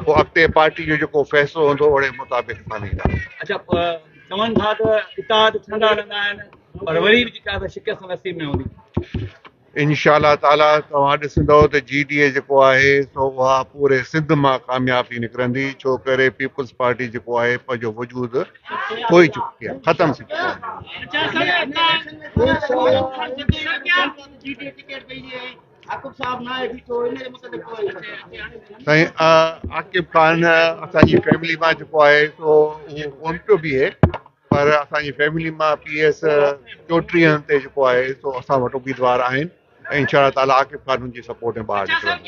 پوء اڳتي پارٽي جو جيڪو فيصلو هوندو اوهڙي مطابق مڃيندا. اچا چون ٿا ته اتحاد ٺهندا رهندا آهن پر وري به جيڪا ته شڪست نصيب ۾ هوندي. انشاء الله تعاليٰ توهان ڏسندؤ ته جي ڊي اي جيڪو آهي سو اها پوري سنڌ مان ڪامياب ٿي نڪرندي ڇو ڪري پيپلز پارٽي جيڪو آهي پنهنجو وجود ٿوئي چڪي آهي ختم ٿي چڪو آهي عاقب خان اسانجي فيملي مان جيڪو آهي سو اهو ڪون پيو بيهي پر اسانجي فيملي مان پي ايس چوٽيهن تي جيڪو آهي سو اسان وٽ اميدوار آهن ۽ انشاء الله تعالي عاقب خان ان جي سپورٽ ۾ ٻاهر نڪرندو.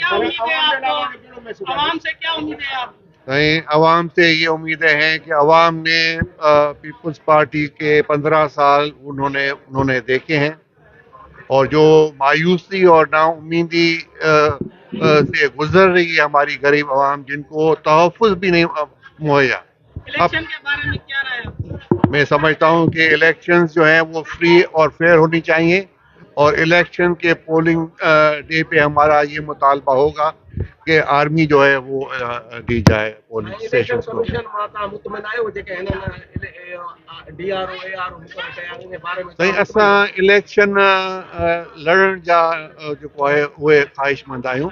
سائين عوام تي يي اميدين هين ڪي عوام ني پيپلز پارٽي ڪي پندرهن سال انهون ني انهون ني ديکي هين اور جو مايوسي اور نا اميدي سي گذر رهي هي هماري غريب عوام جن ڪو تحفظ بي نهي مهيا الیڪشن کے بارے میں کیا رائے آپ کی؟ مين سمجهتا هون ڪي اليڪشنز جو هين وو فري اور فيئر هوني چاهيي اور اليڪشن ڪي پولنگ ڊي پي همارا يه مطالبه هوگا ڪي آرمي جو هين وو دي جائي پولنگ اسٽيشنز ڪو. اليڪشن ڪميشن مان توهان مطمئن آهيو جيڪي هنن D R O A R O مقرر ڪيا آهن انهي باري ۾ سائين اسان اليڪشن لڙڻ جا جيڪو آهي اهي خواهشمند آهيون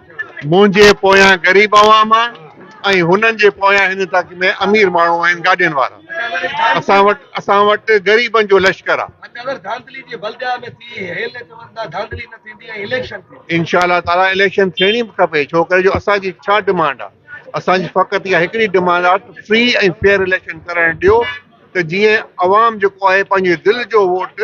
منهنجي پويان غريب عوام آ ۽ هنن جي پويان هن تڪ ۾ امير ماڻهو آهن گاڏين وارا اسان وٽ اسان وٽ غريبن جو لشڪر آ انشاء الله تعالي اليڪشن ٿيڻي به کپي ڇو ڪري جو اسان جي ڇا ڊمانڊ آ اسان جي فقط اها هڪڙي ڊمانڊ آ ته فري ۽ فيئر اليڪشن ڪرڻ ڏيو ته جيئن عوام جيڪو آهي پنهنجي دل جو ووٽ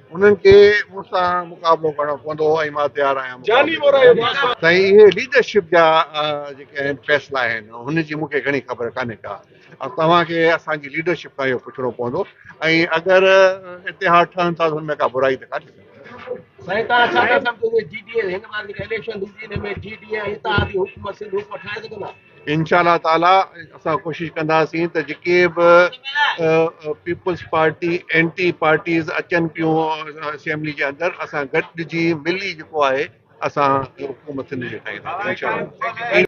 انهن کي مون سان مقابلو ڪرڻو پوندو هو ۽ مان تيار آهيان مقابلي ڪرڻ لاء. سائين اهي ليڊرشپ جا جيڪي آهن فيصلا آهن هن جي مون کي گهڻي خبر ڪانهي ڪا ۽ توهان کي اسان جي ليڊرشپ کان اهو پڇڻو پوندو ۽ اگر اتحاد ٺهن ٿا ته ان ۾ ڪا برائي ته ڪانهي ڪا. سائين تان ڇا ٿا سمجهو ته جي ڊي اي هن ڀيري جيڪا اليڪشن ٿيندي ان ۾ جي ڊي اي ۽ اتحادي حڪومت سنڌ حڪومت ٺاهي سگهندا؟ انشاء الله تعاليٰ اسان ڪوشش ڪنداسين ته جيڪي به پيپلز پارٽي اينٽي پارٽيز اچن پيون اسيمبلي جي اندر اسان گڏجي ملي جيڪو آهي اسان حڪومت سنڌ جي ٺاهينداسين انشاء الله